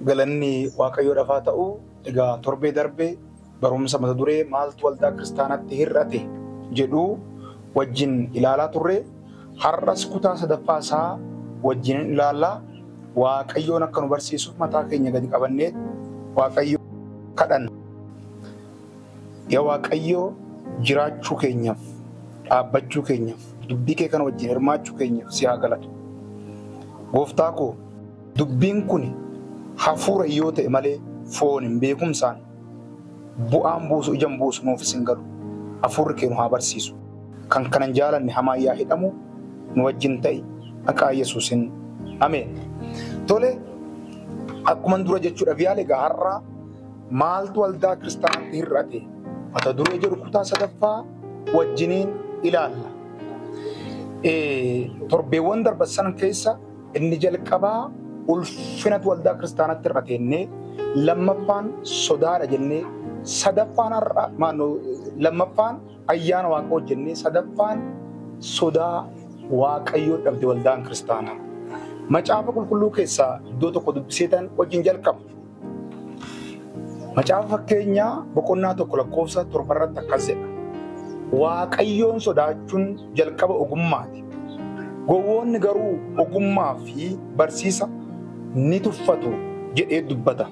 Galanni Waaqayyoodhaaf haa ta'u egaa torbee darbe barumsa mata duree maaltu waldaa kiristaanaatti hir'ate jedhu wajjin ilaalaa turre har'as kutaa sadaffaa isaa wajjin ilaalla Waaqayyoon akka nu barsiisuuf mataa keenya gadi qabannee Waaqayyo kadhanna. Yaa Waaqayyo jiraachuu keenyaaf, dhaabbachuu keenyaaf, dubbii kee kana wajjin hirmaachuu keenyaaf si haa galatu. Gooftaa koo dubbiin kun hafuura yoo ta'e malee fooniin beekumsaan bu'aan buusu ijaan buusu nuufis hin galu. Hafuurri kee nu haa barsiisu. Kan kanan jaalanne hamaan yaa hidhamu nu wajjin ta'i maqaa Yesuusin. Ameen. Tole akkuman dura jechuudhaaf yaale egaa har'a Maaltu Waldaa Kiristaanaatti Hir'ate? Mata duree jedhu kutaa sadaffaa wajjiniin ilaalla. Torbeewwan darban sana keessa inni jalqabaa ulfinatu Waldaa Kiristaanaatti hir'ate jennee, lammaffaan sodaadha jennee, sadaffaan har'a maannoo lammaffaan ayyaana waaqa hojjennee, sadaffaan sodaa waaqayyoo dhabde Waldaan Kiristaanaa. Macaafa qulqulluu keessaa iddoo tokko dubbiseetan wajjin jalqaba. Macaafa fakkeenyaa boqonnaa tokko lakkoofsa torba irratti akkas jedha. Waaqayyoon sodaachuun jalqaba ogummaati. Gowwoonni garuu ogummaa fi barsiisa ni tuffatu jedhee dubbata.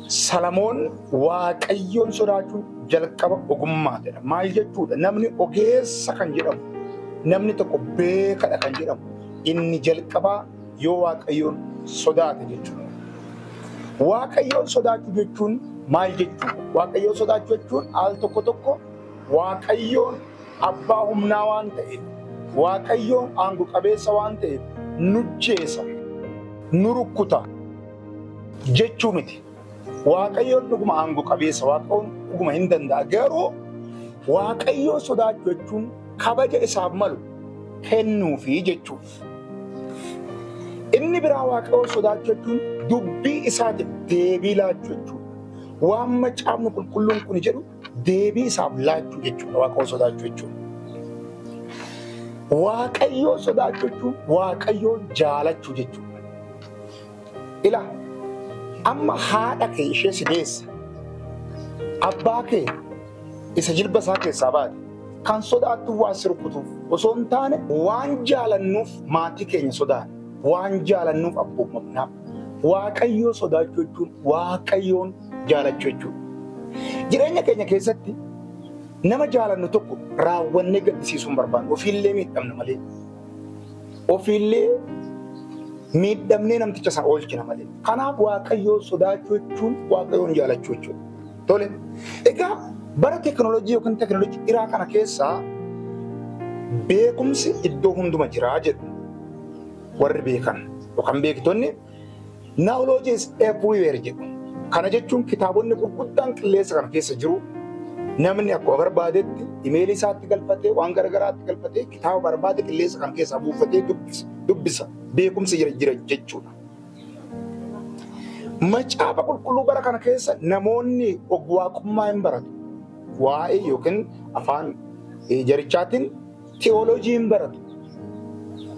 Salamoon waaqayyoon sodaachuun jalqaba ogummaatidha. Maal jechuudha? Namni ogeessa kan jedhamu, namni tokko beekadha kan jedhamu, inni jalqabaa Yoo Waaqayyoon sodaate jechuudha. Waaqayyoon sodaachuu jechuun maal jechuudha? Waaqayyoon sodaachuu jechuun al tokko tokko Waaqayyoon abbaa humnaa waan ta'eef, Waaqayyoon aango qabeessa waan ta'eef nujjeesa, nu rukkuta jechuu miti. Waaqayyoon dhuguma aango qabeessa, Waaqayyoon dhuguma hin danda'a. Garuu Waaqayyoon sodaachuu jechuun kabaja isaaf malu kennuufi jechuudha. Inni biraa Waaqayyoon sodaachuu jechuun dubbii isaatiif deebii laachuu jechuudha. Waan macaafni qulqulluun kun jedhu deebii isaaf laachuu jechuudha. Waaqayyoon sodaachuu jechuudha. Waaqayyoon sodaachuu jechuun Waaqayyoon jaalachuu jechuudha. Ila amma haadha kee ishee si deesse abbaa kee isa jilba isaa keessaa baate kan sodaattu waan si rukkutuuf osoo hin taane waan jaalannuuf maatii keenya sodaanna waan jaalannuuf abboomamnaaf waaqayyoo sodaachuu jechuun waaqayyoon jaalachuu jechuudha. Jireenya keenya keessatti nama jaalannu tokko raawwannee gaddisiisuu hin barbaannu ofiillee miidhamna malee. Ofiillee miidhamnee namticha isaa oolchina malee. Kanaaf Waaqayyoon sodaachuu jechuun Waaqayyoon jaalachuu jechuudha. Tole. Egaa bara teekinooloojii yookiin teekinooloojii dhiraa kana keessaa beekumsi iddoo hunduma jiraa jedhu warri beekan yookaan beektonni Knowledge is everywhere jedhu. Kana jechuun kitaabonni gurguddaan qilleensa kana keessa jiru. Namni akkuma barbaadetti imeelii isaatti galfatee waan garaagaraatti galfatee kitaaba barbaade qilleensa kana keessaa buufatee dubbisa. Beekumsi jira jira jechuudha. Macaafa qulqulluu bara kana keessa namoonni ogwaaqummaa hin baratu. Waa'ee yookiin afaan jarichaatiin Tiyooloojii hin baratu.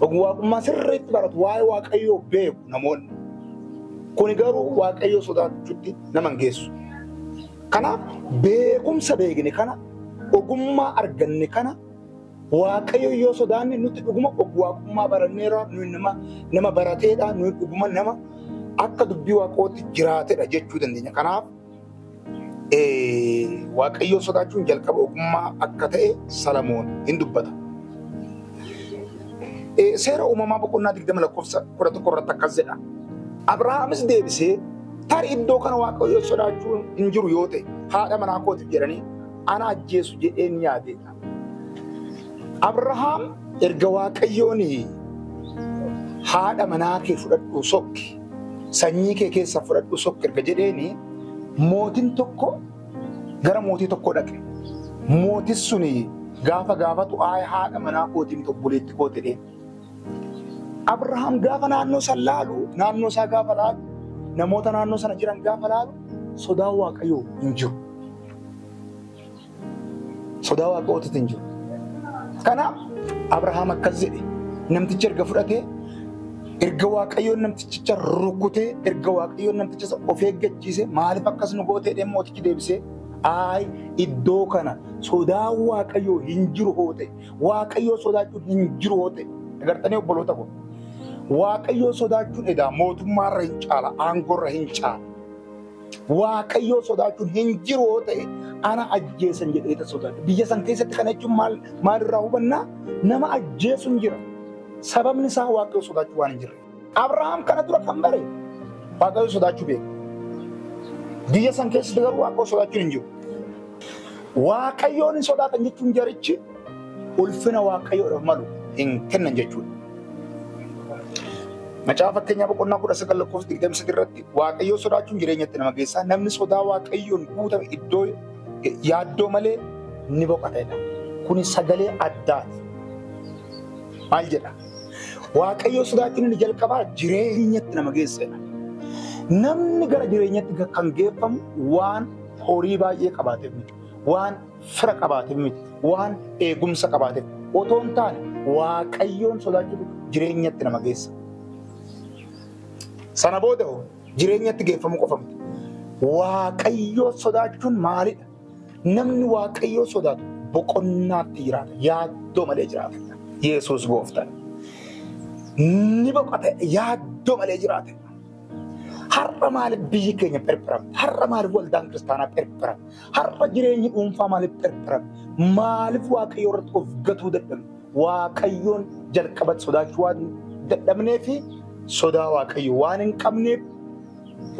Ogwaaqummaa sirriitti baratu. Waa'ee Waaqayyoo beeku namoonni. Kuni garuu Waaqayyoo sodaachuutti nama hin geessu. Kanaaf beekumsa beekne kana, ogummaa arganne kana Waaqayyo yoo sodaanne nuti dhuguma ogwaaqummaa baranneera, nuyi nama, nama barateedha, nuyi dhuguma nama akka dubbii Waaqootti jiraatedha jechuu dandeenya. Kanaaf Eh, Waaqayyoo sodaachuun jalqaba ogummaa akka ta'e Salamoon hin dubbata. Eh, Seera uumamaa boqonnaa 20 lakkoofsa 11 irratti akkas jedha. Abrahaamis deebisee tarii iddoo kana Waaqayyoo sodaachuun hin jiru yoo ta'e haadha manaa kootiif jedhanii ana ajjeesu jedheen yaade jedha. Abrahaam erga Waaqayyoon haadha manaa kee fudhadhuu sokki, sanyii kee keessa fudhadhuu sokki erga jedheeni mootin tokko gara mootii tokko dhaqe. Mootis suni gaafa gaafatu aay haadha manaa kootii miti obboleetti koo jedheen. Abrahaam gaafa naannoo san laalu, naannoo isaa gaafa laalu, namoota naannoo sana jiran gaafa laalu sodaan Waaqayyoo hin jiru. Sodaa waaqootitti hin jiru. Kanaaf Abrahaam akkas jedhe namtichi erga fudhatee erga waaqayyoon namtichicha rukutee erga waaqayyoon namticha isa of eeggachiise maaliif akkas nu gootee deemu mootichi deebisee aay iddoo kana sodaa waaqayyoo hin jiru hoo ta'e waaqayyoo sodaachuun hin jiru hoo ta'e agartanii obboloota koo waaqayyoo sodaachuun edaa mootummaarra hin caala aangoorra hin caala Waaqayyoo sodaachuun hin jiru yoo ta'e ana ajjeesan jedhee ta sodaadha. Biyya san keessatti kana jechuun maal maalirraa hubannaa? Nama ajjeesuun jira. Sababni isaa Waaqayyoo sodaachuu waan hin jirre. Abrahaam kana dura kan bare Waaqayyoo sodaachuu beeka. Biyya san keessatti garuu Waaqayyoo sodaachuun hin jiru. Waaqayyoon hin sodaatan jechuun jarichi ulfina waaqayyoodhaaf malu hin kennan jechuudha. Macaafa fakkeenyaa boqonnaa kudha sagal lakkoofsa digdami sadii irratti waaqayyoo sodaachuun jireenyatti nama geessaa namni sodaa waaqayyoon guutame iddoo yaaddoo malee ni boqatedha. Kuni sagalee addaati. Maal jedha? Waaqayyoo sodaachuun inni jalqabaa jireenyatti nama geessedha. Namni gara jireenyatti kan geeffamu waan horii baay'ee qabaateef miti. Waan fira qabaatin miti. Waan eegumsa qabaateef otoo hin taane waaqayyoon sodaachuutu jireenyatti nama geessa. Sana booda hoo jireenyatti geeffamuu qofa miti. Waaqayyoo sodaachuun maalidha? Namni waaqayyoo sodaatu boqonnaatti jiraata. Yaaddoo malee jiraata. Yesuus gooftaan. Ni boqote yaaddoo malee jiraata. Har'a maaliif biyyi keenya phirphiramte? Har'a maaliif waldaan kiristaanaa phirphiramte? Har'a jireenyi dhuunfaa maaliif pherpherame? Maaliif Waaqayyo irratti of gatuu dadhabne? Waaqayyoon jalqabatti sodaachuu waan dadhabnee fi sodaa Waaqayyo waan hin qabneef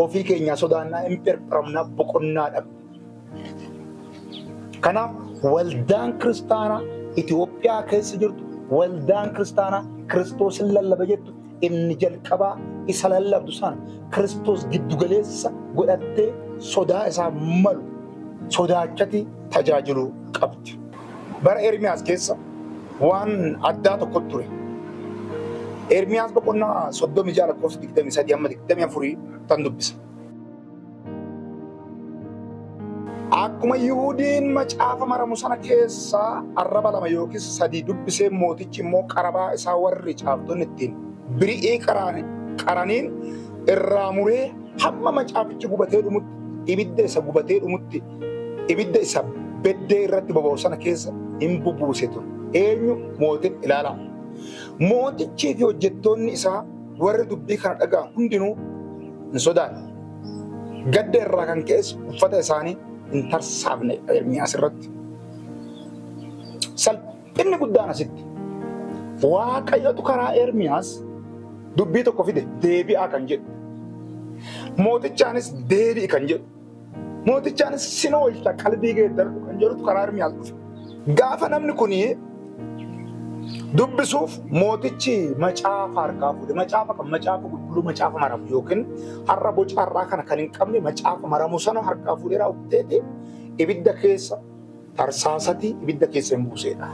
ofii keenyaa sodaannaa hin pherpheramnaa boqonnaa dhabne. Kanaaf waldaan kiristaanaa Itoophiyaa keessa jirtu waldaan kiristaanaa Kiristoos hin lallaba jettu inni jalqabaa isa lallabdu sana Kiristoos giddu galeessa godhattee sodaa isaa malu sodaachati tajaajiluu qabdi. Bara Ermiyaas keessa waan addaa tokko ture. Ermiyaas boqonnaa 36 lakkoofsa 23 amma 24 tan dubbisa. Akkuma Yihudiin macaafa maramu sana keessaa arraba lama yookiis sadii dubbisee mootichi immoo qarabaa isaa warri caaftonni ittiin biri'ii qaraniin irraa muree hamma macaafichi gubatee dhumutti ibidda isa gubatee dhumutti ibidda isa beddee irratti boba'u sana keessa hin bubuuse ture. Eenyu mootin ilaalaa. Mootichii fi hojjettoonni isaa Warri dubbii kana dhaga'an hundinuu hin sodaanne. Gadda irraa kan ka'es uffata isaanii hin tarsaafne Ermiyaas irratti. Salphinni guddaan asitti Waaqayyotu karaa Ermiyaas dubbii tokko fide deebi'aa kan jedhu. Mootichaanis deebi'i kan jedhu. Mootichaanis sin oolcha qalbii geeddaradhu kan jedhutu karaa Ermiyaas dhufe. Gaafa namni kun dubbisuuf mootichi macaafa harkaa fuudhe. Macaafa kan macaafa qulqulluu macaafa maramu yookiin har'a boca har'aa kana kan hin qabne macaafa maramu sana harkaa fuudhee raawwateeti ibidda keessa Tarsaasati ibidda keessa hin buuseedha.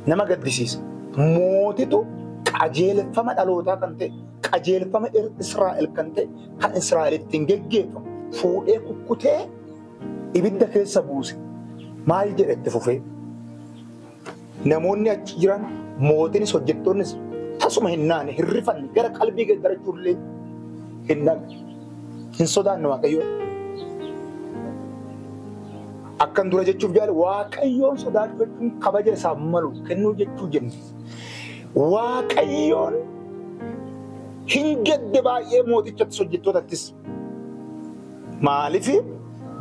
Nama gaddisiisa. Mootitu qajeelfama dhalootaa kan ta'e, qajeelfama Israa'el kan ta'e, kan Israa'el ittiin geggeeffamu fuudhee kukkutee ibidda keessa buuse. Maal jedhe itti fufee? Namoonni achi jiran mootinis hojjettoonnis tasuma hin naane hin rifanne gara qalbii gaggarachuun illee hin dhabne. Hin sodaanne Waaqayyoon. Akkan dura jechuuf jaale Waaqayyoon sodaachuu jechuun kabaja isaaf malu kennuu jechuu jenne. Waaqayyoon hin gadde baay'ee mootichattis hojjettootattis. Maaliif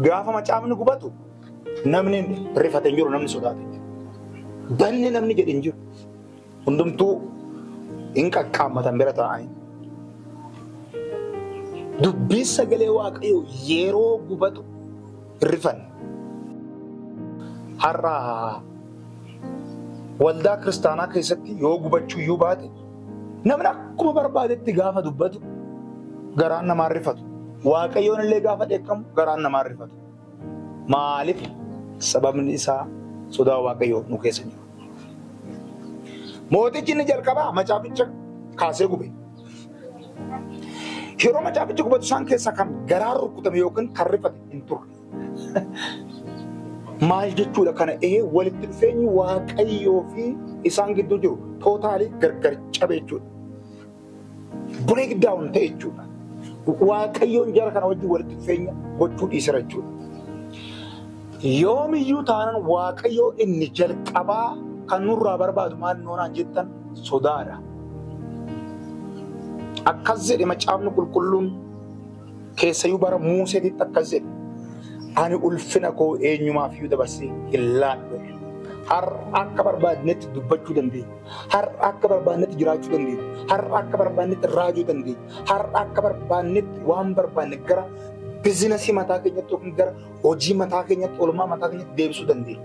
gaafa macaafni gubatu Namni rifate hin jiru, namni sodaate hin jiru. Banne namni jedhe hin jiru. Hundumtuu hin qaqqaammatan bira taa'anii. Dubbiin sagalee waaqayyoo yeroo gubatu hin rifanne. Har'a waldaa kiristaanaa keessatti yoo gubachuu iyyuu baate namni akkuma barbaadetti gaafa dubbatu garaan namaa hin rifatu. Waaqayyoon illee gaafa dheekkamu garaan namaa hin rifatu. Maaliif? Sababni isaa sodaa Waaqayyoo nu keessa jiru. Mootichi inni jalqabaa macaaficha kaasee gube. Yeroo macaafichi gubatu isaan keessaa kan garaa rukutame yookiin kan rifate hin turre. Maal jechuudha kana ee walitti dhufeenyi Waaqayyoo fi isaan gidduu jiru tootaalii gargar cabe jechuudha. break down ta'e jechuudha. Waaqayyoon jara kana wajjin walitti dhufeenya gochuu dhiisera jechuudha. Yoomiyyuu taanaan Waaqayyoo inni jalqabaa kan nurraa barbaadu maal noonaan jettan sodaadha. Akkas jedhe macaafni qulqulluun keessayyuu bara Muuseetitti akkas jedhe. Ani ulfina koo eenyumaaf iyyuu dabarsee hin laadhu. Har'a akka barbaadnetti dubbachuu dandeenya. Har'a akka barbaannetti jiraachuu dandeenya. Har'a akka barbaannetti raajuu dandeenya. Har'a akka barbaannetti waan barbaanne gara bizinasii mataa keenyatti yookiin gara hojii mataa keenyatti, oolmaa mataa keenyatti deebisuu dandeenya.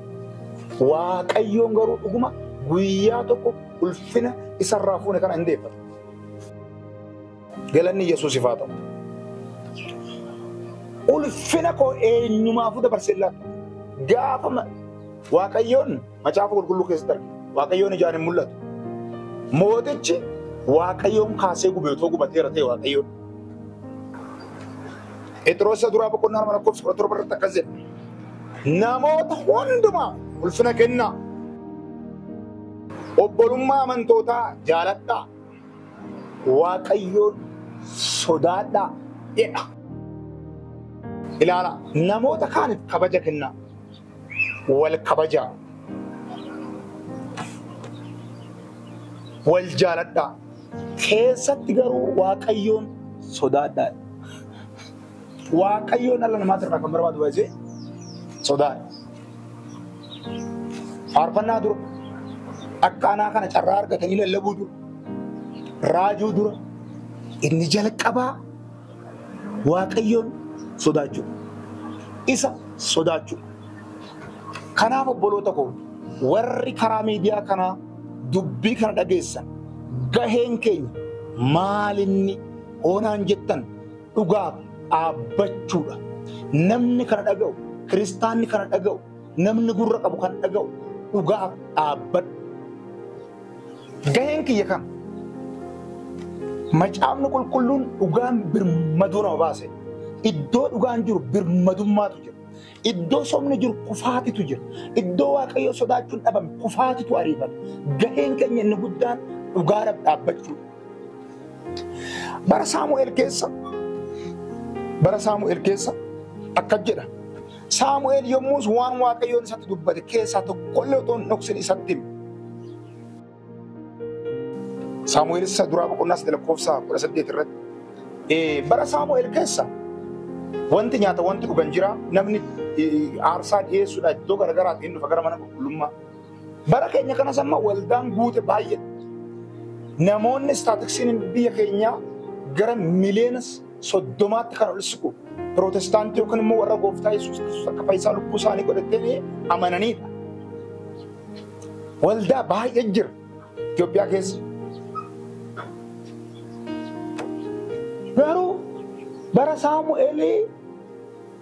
Waaqayyoon garuu dhuguma guyyaa tokko ulfina isarraa fuune kana hin deeffatu. Galanni Yesuusiif haa ta'u. Ulfina koo eenyumaafuu dabarsee hin laatu. Gaafa ma- Waaqayyoon Macaafa qulqulluu keessatti argina. Waaqayyoon ijaan hin mul'atu. Mootichi Waaqayyoon kaasee gube otoo gubateera ta'e Waaqayyoon. Phexros isa duraa boqonnaa lama lakkoofsa kudha torba irratti akkas jedha. Namoota hundumaa ulfina kennaa. Obbolummaa amantootaa jaaladhaa. Waaqayyoon sodaadhaa jedha. Ilaala namoota kaaniif kabaja kennaa. wal kabajaa, wal jaaladhaa. Keessatti garuu Waaqayyoon sodaadhaa. Waaqayyoon dhala namaatti irraa kan barbaadu baay'ee sodaadha. Faarfannaa dura akka anaa kana carraa argatanii lallabuu dura raajuu dura inni jalqabaa Waaqayyoon sodaachuu isa sodaachuu kanaaf obboloota koo warri karaa miidiyaa kanaa dubbii kana dhageessan gaheen keenya maalinni hoonaan jettan dhugaaf dhaabbachuudha namni kana dhaga'u kiristaanni kana dhaga'u Namni gurra qabu kan dhaga'u dhugaaf dhaabbadhu. Gaheen kiyya kam? Macaafni qulqulluun dhugaan birmaduu nama baase. Iddoo dhugaan jiru birmadummaatu jira. Iddoo sobni jiru kufaatitu jira. Iddoo waaqayyoo sodaachuun dhabame kufaatitu ariifata. Gaheen keenya inni guddaan dhugaadhaaf dhaabbachuu. Bara Saamu'eel keessa bara Saamu'eel keessa akkas jedha. Saamu'eel yommus waan Waaqayyoon isatti dubbate keessaa tokkollee otoo hin dhoksin isatti hime. Saamu'eel isa duraa boqonnaa sadii lakkoofsa kudha saddeet irratti. Eh, Bara Saamu'eel keessa wanti nyaata wanti dhugan jira namni eh, aarsaa dhiyeessuudha iddoo garagaraatti hin dhufa gara mana qulqullummaa. Bara keenya kanas amma waldaan guute baay'ee namoonni istaatiksiin biyya keenyaa gara miliyoona soddomaatti kan ol siqu pirootestaantii yookiin immoo warra gooftaa Yesuus Kiristoos akka fayyisaa lubbuu isaanii godhatanii amananiidha. Waldaa baay'ee jira Itoophiyaa keessa. Garuu bara Saamu'eelii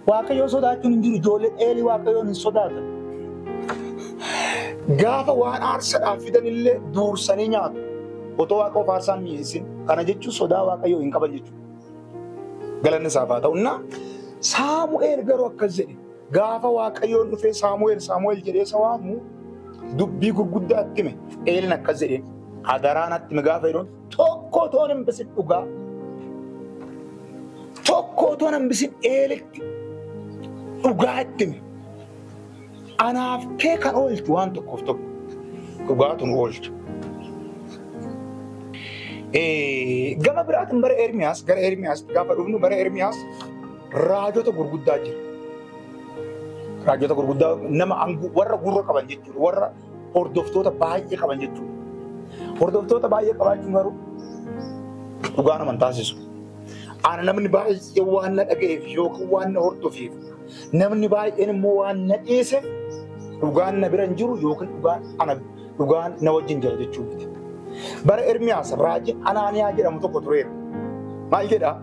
Waaqayyoon sodaachuun hin jiru. Ijoolleen Eelii Waaqayyoon hin sodaatan. Gaafa waan aarsaadhaaf fidanillee duursanii nyaatu. Otoo waaqa of aarsaan mi'eessin. Kana jechuun sodaa Waaqayyoo hin qaban jechuudha. Galanni isaaf haa ta'u. Innaa Saamu'eel garuu akkas jedhe. Gaafa Waaqayyoon dhufee Saamu'eel Saamu'eel jedhee isa waamu dubbii gurguddaa itti hime. Eeliin akkas jedheen. Adaraa natti hime gaafa jedhuun Tokko otoo hin bisin dhugaa. Tokko otoo hin bisin eeletti dhugaa itti himi. Anaaf kee kan oolchu waan tokkoof tokko dhugaatu nu oolcha. Eh, Gama biraatiin bara Ermiyaas gara Ermiyaas gaafa dhufnu bara Ermiyaas raajota gurguddaa jira. Raajota gurguddaa nama angoo warra gurra qaban jechuudha warra hordoftoota baay'ee qaban jechuudha. Hordoftoota baay'ee qabaachuun garuu dhugaa nama hin taasisu. Ana namni baay'ee waan na dhaga'eef yookiin waan na hordofeef namni baay'een immoo waan na dhiise dhugaan na bira hin jiru yookiin dhugaan ana dhugaan na wajjin jira jechuu miti. Bara Ermiyaas raajiin Anaaniyaa jedhamu tokko tureera. Maal jedhaa?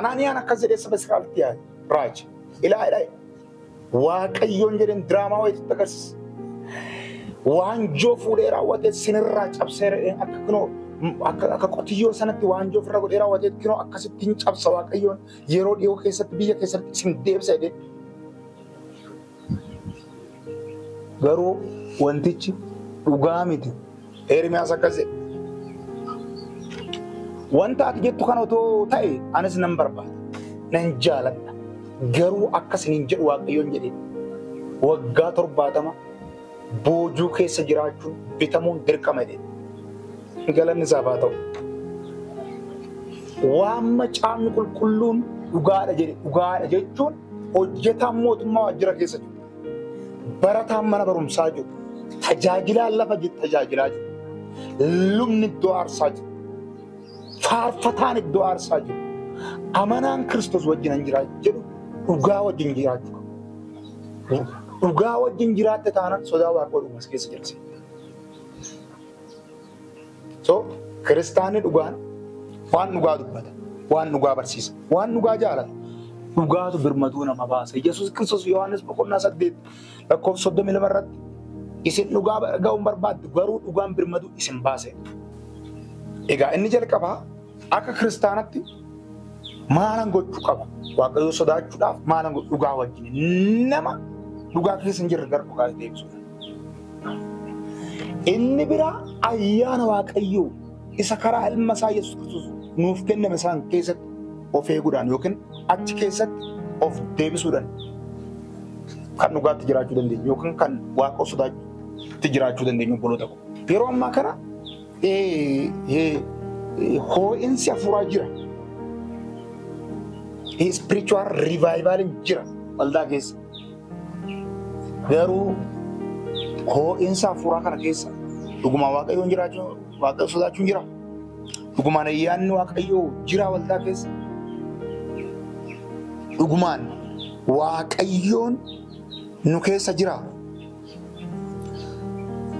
Anaaniyaan akkas jedhee saba Israa'elitti yaade raaji. Ilaa ilaa Waaqayyoon jedheen diraamaa wayiitti agarsiisa. Waanjoo fuudhee raawwatee sinirraa cabsee re'een akka kunoo akka akka qotiyyoo sanatti waanjoo ofirra godhee raawwatee kunoo akkasitti hin cabsa Waaqayyoon yeroo dhiyoo keessatti biyya keessatti isin deebisa jedhee. Garuu wantichi dhugaa miti. Eermiyaas akkas jedhe. Wanta ati jettu kan otoo ta'e anis nan barbaada. Nan jaaladha. Garuu akka isiniin jedhu Waaqayyoon jedhee waggaa torbaatama boojuu keessa jiraachuun bitamuun dirqama jedhe. Galanni isaaf haa ta'u. Waan macaafni qulqulluun dhugaadha jedhe dhugaadha jechuun hojjetaan mootummaa waajjira keessa jiru. barataan mana barumsaa jiru, tajaajilaan lafa jiru tajaajilaa jiru, lubni iddoo aarsaa jiru, faarfataan iddoo aarsaa jiru, amanaan Kiristoos wajjin hin jiraatu jedhu dhugaa wajjin jiraachuu qabu. Dhugaa wajjin jiraatte taanaan sodaa Waaqayyoo dhumas keessa jirti. So kiristaanni dhugaan waan dhugaa dubbata, waan dhugaa barsiisa, waan dhugaa jaalata. Dhugaatu birmatuu nama baasa. Yesuus Kiristoos Yohaannis boqonnaa saddeet lakkoofsa soddomii lama irratti isin dhugaa ga'uun barbaaddu garuu dhugaan birmatuu isin baase. Egaa inni jalqabaa Akka kiristaanatti maalan gochuu qaba? Waaqayyoo sodaachuudhaaf maalan godhu? Dhugaa wajjin nama dhugaa keessa hin jirre gara dhugaa itti deebisuudha. Inni biraa ayyaana Waaqayyoo isa karaa ilma isaa Yesuus Kiristoos nuuf kenname isaan keessatti of eeguudhaan yookiin achi keessatti of deebisuudhaan kan dhugaatti jiraachuu dandeenyu yookiin kan Waaqa sodaatti jiraachuu dandeenyu obboloota koo. Yeroo ammaa kana hoo'insi hafuuraa jira. Spiritual revival jira waldaa keessa. Garuu hoo'insa hafuuraa kana keessa dhugumaan waaqayyoon jiraachuu waaqayyoon sodaachuun jira. Dhugumaan ayyaanni waaqayyoo jira waldaa keessa. Dhugumaan waaqayyoon nu keessa jira.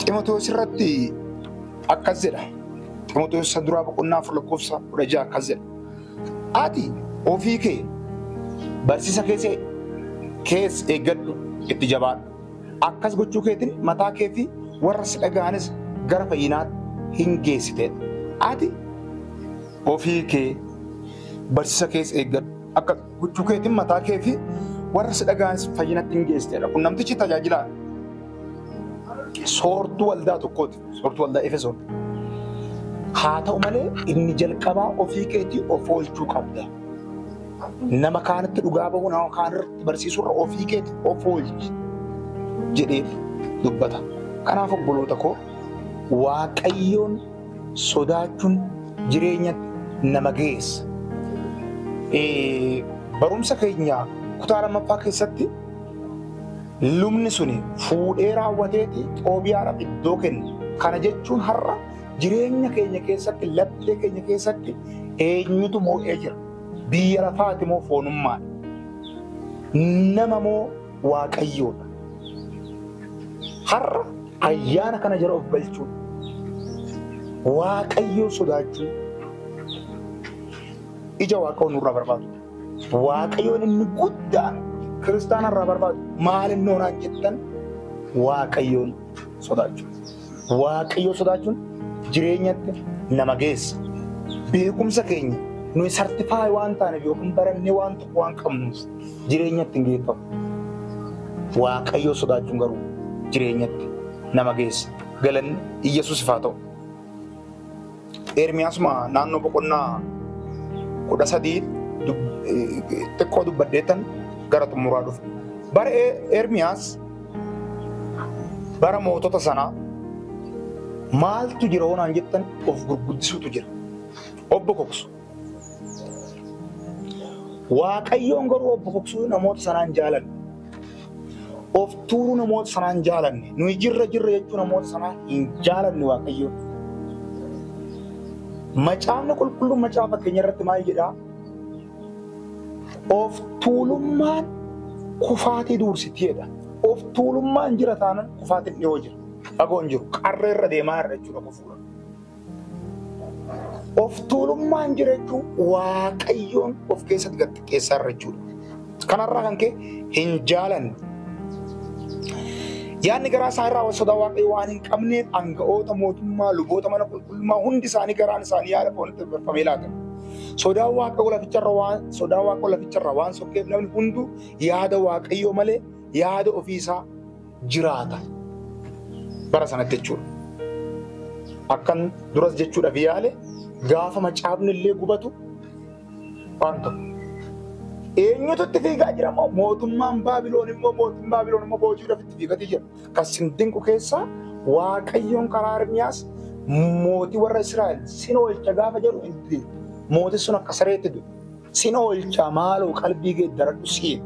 Ximotewos irratti akkas jedha. Ximotewos isa duraa boqonnaa afur lakkoofsa kudha ja'a akkas jedha. Ati ofii kee barsiisa keessa kees eeggadhu itti jabaadhu. Akkas gochuu keetiin mataa kee fi warra si dhaga'anis gara fayyinaatti hin geessite. Ati ofii kee barsiisa keessa eeggadhu. Akka Huccuu keetiin mataa kee fi warra si dhaga'anis fayyinatti hin geessedha. Kun namtichi tajaajilaa soortuu waldaa tokkooti. Soortuu waldaa Efesoon. Haa ta'u malee inni jalqabaa ofii keetii of oolchuu qabda. Nama kaanitti dhugaa ba'uu nama kaanirratti barsiisurra ofii keetii of oolchi jedhee dubbata. Kanaaf obboloota koo Waaqayyoon Sodaachuun jireenya nama geessa. Barumsa keenya kutaa lammaffaa keessatti lubni suni fuudhee raawwateeti Xoobiyaadhaaf iddoo kenne. Kana jechuun har'a jireenya keenya keessatti laphee keenya keessatti eenyutu moo'ee jira? Biyya lafaati moo foonummaadha? Nama moo Waaqayyoodha. Har'a ayyaana kana jala of galchuun Waaqayyoo sodaachuun ija Waaqayyoo nurraa barbaadu. Waaqayyoon inni guddaan kiristaana irraa barbaadu maal inni hoonaan jettan Waaqayyoon sodaachuu. Waaqayyoo sodaachuun jireenyatti nama geessa. Beekumsa keenya nuyi sartifaay waan taaneef yookiin barannee waan tokko waan qabnuuf jireenyatti hin geeffamu. Waaqayyoo sodaachuun garuu jireenyatti nama geessa. Galanni Iyyasuusif haa ta'u. Ermiyaasuma naannoo boqonnaa kudha sadii xiqqoo dubbaddeettan gara xumuraa dhufu. Bara Ermiyaas bara mootota sanaa maaltu jira hoonaan jettan of gurguddisuutu jira. Obbo Koksu. Waaqayyoon garuu of bokoksuu namoota sanaan jaalanne. Of tuuruu namoota sanaan jaalanne. Nuyi jirra jirra jechuu namoota sanaa hin jaalanne Waaqayyoon. Macaafni qulqulluun macaafa fakkeenya irratti maal jedhaa? Of tuulummaan kufaatii duursiti jedha. Of tuulummaan jira taanan kufaatiin dhiyoo jira. Fagoon jiru qarreerra deemaa irra jechuudha kufuudha. Of tuulummaan jira jechuun waaqayyoon of keessatti gad xiqqeessaa irra jechuudha. Kanarraa kan ka'e hin jaalanne. Yaadni garaa isaa irraa sodaa waaqayyoo waan hin qabneef aanga'oota mootummaa luboota mana qulqullummaa hundi isaanii garaan isaanii yaada foonitti barfamee laata. Sodaa waaqayyoo laficharra waan sodaa waaqayyoo laficharra waan sokkeef namni hunduu yaada waaqayyoo malee yaada ofii isaa jiraata. Bara sanatti jechuudha. Akkan duras jechuudhaaf yaale gaafa macaafni illee gubatu waan tokko. Eenyutu itti fiigaa jira moo mootummaan Baabiloon immoo mootummaan Baabiloon immoo boojuudhaaf itti fiigatii jira. Kan sin dinqu keessaa Waaqayyoon karaa Ermiyaas mootii warra Israa'el sin oolcha gaafa jedhu hin mootiin sun akka sareetti du'e. Sin oolchaa maaloo qalbii geeddaradhu siin.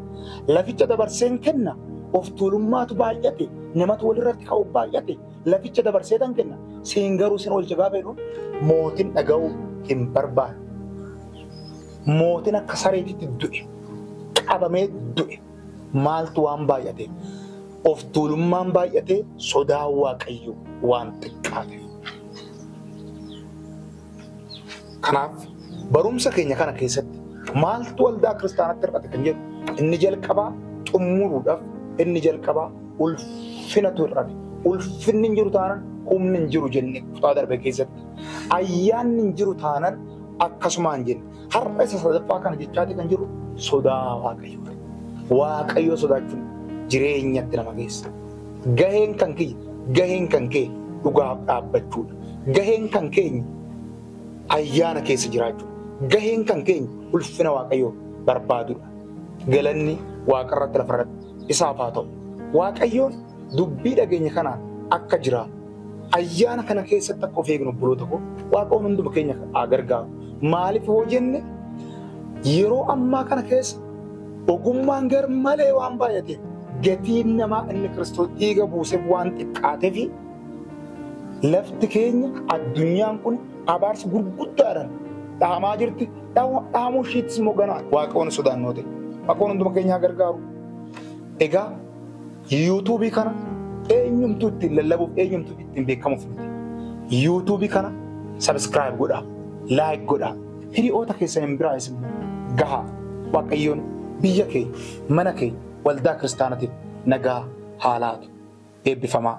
Laficha dabarseen kenna. Of tuulummaatu baay'ate. Namatu walirratti ka'u baay'ate. Laficha dabarsee tan kenna. Siin garuu sin oolcha gaafa jedhu mootiin dhaga'uu hin barbaadu. Mootiin akka sareetitti du'e. Qabamee du'e. Maaltu waan baay'ate? Of tuulummaan baay'ate sodaa waaqayyo waan xiqqaateef. Kanaaf barumsa keenya kana keessatti maaltu waldaa kiristaanatti hir'ate kan jedhu inni jalqabaa xumuruudhaaf inni jalqabaa ulfinatu hir'ate. Ulfinni hin jiru taanaan humni hin jiru jenne kutaa darbe keessatti. Ayyaanni hin jiru taanaan akkasumaan jenne. Har'a isa sadaffaa kana jechaati kan jiru sodaa waaqayyooti. Waaqayyoo sodaachuun jireenyatti nama geessa. Gaheen kan kiyya, gaheen kan kee dhugaaf dhaabbachuudha. Gaheen kan keenya ayyaana keessa jiraachuudha. Gaheen kan keenya ulfina waaqayyoo barbaadudha. Galanni waaqarratti lafarratti isaaf haa ta'u. Waaqayyoon Dubbii dhageenye kanaan akka jiraannu, ayyaana kana keessatti akka of eegnu obboloota koo Waaqoon hunduma keenya haa gargaaru. Maaliif hoo jenne yeroo ammaa kana keessa ogummaan gar malee waan baay'ateef gatiin namaa inni Kiristoos dhiiga buuseef waan xiqqaateef lafti keenya addunyaan kun abaarsa gurguddaadhaan dhaamaa jirti. Dhaamuu ishiittis immoo ganaa Waaqoon sodaannoo ta'e. Waaqoon hunduma keenya haa gargaaru. Egaa Yuutuubii kana eenyumtuu ittiin lallabuuf eenyumtuu ittiin beekamuuf miti. Yuutuubii kana sabiskiraayib godhaa, laayik godhaa, hiriyoota keessaniin biraa isin gahaa. Waaqayyoon biyya keenya, mana keenya, waldaa kiristaanatiif nagaa haa laatu. Eebbifamaa.